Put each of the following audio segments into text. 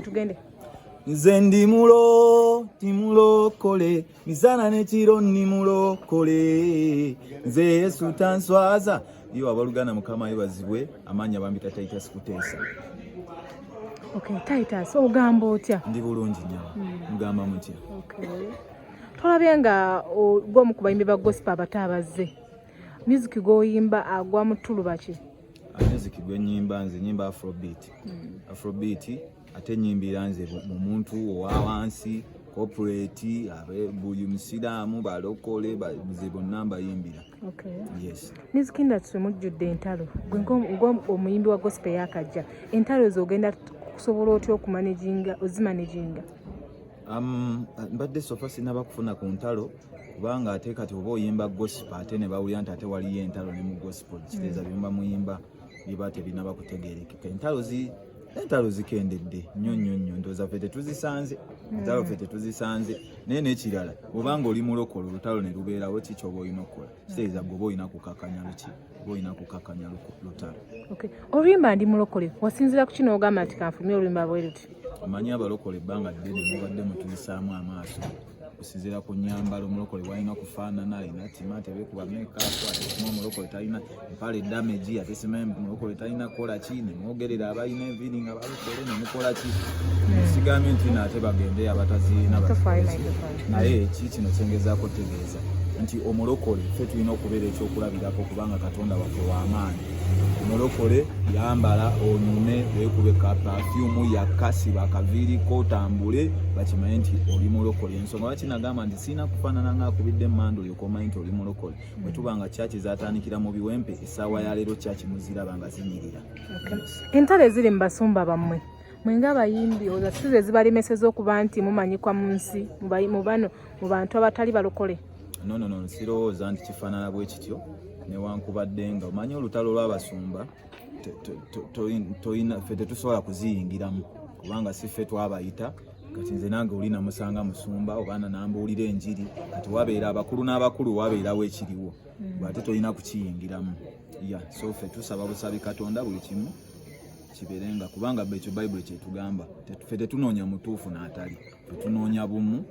tugende nze ndi mulo ti mulokole misana nekiro ndi mulokole nze yesu tanswaza iyo abaluganda mukama yebazibwe amaanyi abambi tatayita sikuteesa okay, titus ogamba otya ndi bulungi nyo hmm. mugamba mm. mutya okay. tolabye nga gwomu kubayimbi ba gospa abato abazze music gwoyimba agwa mutulubaki music gwe nyimba nze nyimba afrobeat mm. afrobeat ate nyimbira nze mu muntu owa wansi corporate abe buli musiraamu balokole nze bonna mbayimbira okay. yes. music industry mujjudde entalo gwe ng'omuyimbi wa gospel yakajja entalo ezo ogenda kusobola otya okumanaginga ozimanaginga um, mbadde sofa sinaba kufuna ku ntalo kubanga ate kati oba oyimba gospel ate ne bawulira nti ate waliyo entalo ne mu gospel kiteeza mm. byemba muyimba biba tebinaba kutegerekeka entalo zi entalo zikendedde nnyo nnyo nnyo ndooza fe tetuzisanze mm. entalo fe tetuzisanze naye nekirala obanga oli mulokolo olutalo ne lubeerawo ki kyoba olina okukola mm. kiteeza gwe oba olina kukakanya luki oba olina kukakanya lutalo oluyimba ndi mulokole wasinzira ku kino ogamba nti kanfulumye oluyimba bweruti omanyi abalokole ebbanga ddene mubadde mutuyisaamu amaaso osinzira ku nyambala omulokole walina kufaanana alina tima tebekuba mekaku atesima omulokole talina mpale damagi atesima omulokole talina kukolaki nemwogerera abalina enviiri nga balokole nemukolaki sigambye nti naate bagende abatazirina naye ki kino kyengezaako tegeeza nti omulokole fe tulina okubeera ekyokulabirako kubanga katonda waffe wamaanyi mulokole yambala onyume wekube ka pafyumu yakasi bakaviiriko otambule bakimanye nti oli mulokole ensonga lwaki nagamba nti sirina kufaanana nga akubidde emmandu olyokomanye nti oli mulokole bwe tuba nga kyaki zatandikira mu biwempe essaawa ya leero kyaki muziraba nga zinyirira entalo eziri mu basumba bammwe mwenga abayimbi oza sizo ezibalemeseza okuba nti mumanyikwa mu nsi mu bano mu bantu abatali balokole no no no nsirowooza nti kifaanana bwe kityo newankubadde nga omanyi olutalo lw'abasumba tolina ffe tetusobola kuziyingiramu kubanga si ffe twabayita kati nze nange oli namusanga musumba obaana nambuulira enjiri kati wabeera abakulu n'abakulu wabeerawo ekiriwo bwate tolina kukiyingiramu ya so ffe tusaba busabi katonda buli kimu kiberenga kubanga ekyo bayibuli kyetugamba fe tetunoonya mutuufu n'atali tetunoonya bumu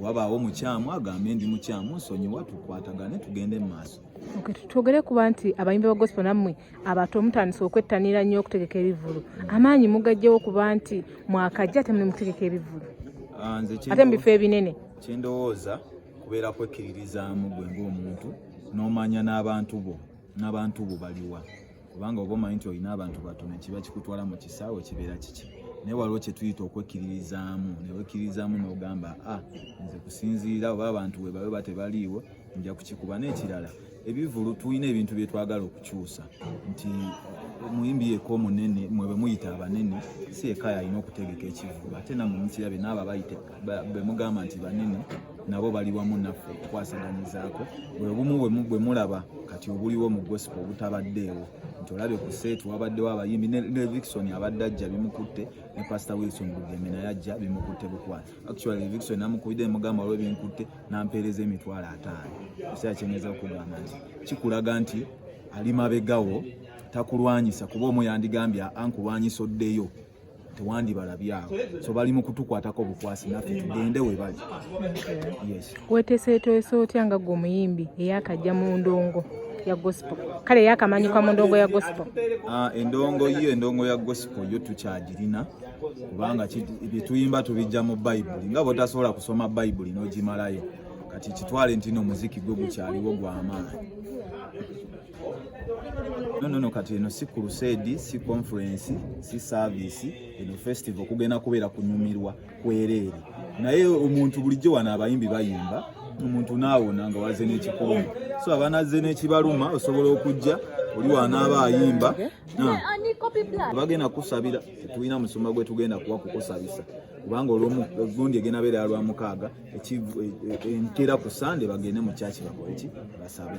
wabaawo mukyamu agambe ndi mukyamu nsonyiwa tukwatagane tugende mu maaso twogere kuba nti abayimbi ba gospel nammwe abato mutandise okwettanira nnyo okutegeka ebivulu amaanyi mugajjewo kuba nti mwakajja ate muli mutegeka ebivulu ah, ate mu bifo ebinene kyendowooza kubeera kwekkiririzaamu gwe ngaomuntu n'omanya n'abantu bo n'abantu bo baliwa kubanga oba omanyi nti olina abantu batono kiba kikutwala mu kisaawe kibeera kiki naye waliwo kyetuyita okwekkiririzaamu newekkiririzaamu nogamba a ah, nze kusinziira oba abantu webabe ba tebaliiwo nja kukikuba n'ekirala ebivulu tulina ebintu byetwagala okukyusa nti omuyimbi yeka omunene mwebemuyita abanene si ekayo alina okutegeka ekivulu ate namwe mukirabye naabo abayita bemugamba nti banene nabo bali wamu naffe okukwasaganyizaako bwe bumu bwe mulaba kati obuliwo mu gospel obutabaddeewo nti olabye ku seeti wabaddewo abayimbi ne vixon abadde ajja bimukutte ne pastor wilson bugembe naye ajja bimukutte bukwala actually vixon namukubidde mugamba olwe binkutte nampeereza emitwalo ataano ekiseera kyenyeza okugamba nti kikulaga nti ali mabegawo takulwanyisa kuba omu yandigambye ankulwanyisa oddeyo tewandibalabye awo so bali mu kutukwatako obukwasi naffe tugende we bali weteseetwese otya nga gwe omuyimbi eyakajja mu ndongo ya gospel kale yakamanyikwa mu ndongo ya gospel ah, endongo yo endongo ya gospel yo tukyagirina kubanga byetuyimba tubijja mu bayibuli nga bwotasobola kusoma bayibuli n'ogimalayo kati kitwale ntino omuziki gwe gukyaliwo gwamaanyi No, no, no, kati eno si crusade si conference si service eno festival kugenda kubeera kunyumirwa kwereere naye omuntu bulijjo wano abayimbi bayimba omuntu naawona nga waze n'ekikuuma so abanazze n'ekibaluma osobola okujja oli wanaaba ayimba bagenda kusabira tulina musumba gwe tugenda kuwa kukusabisa kubanga olwomugundi egenda beera lwa mukaaga entera ku sande bagende mu kyaki bakoleki basabe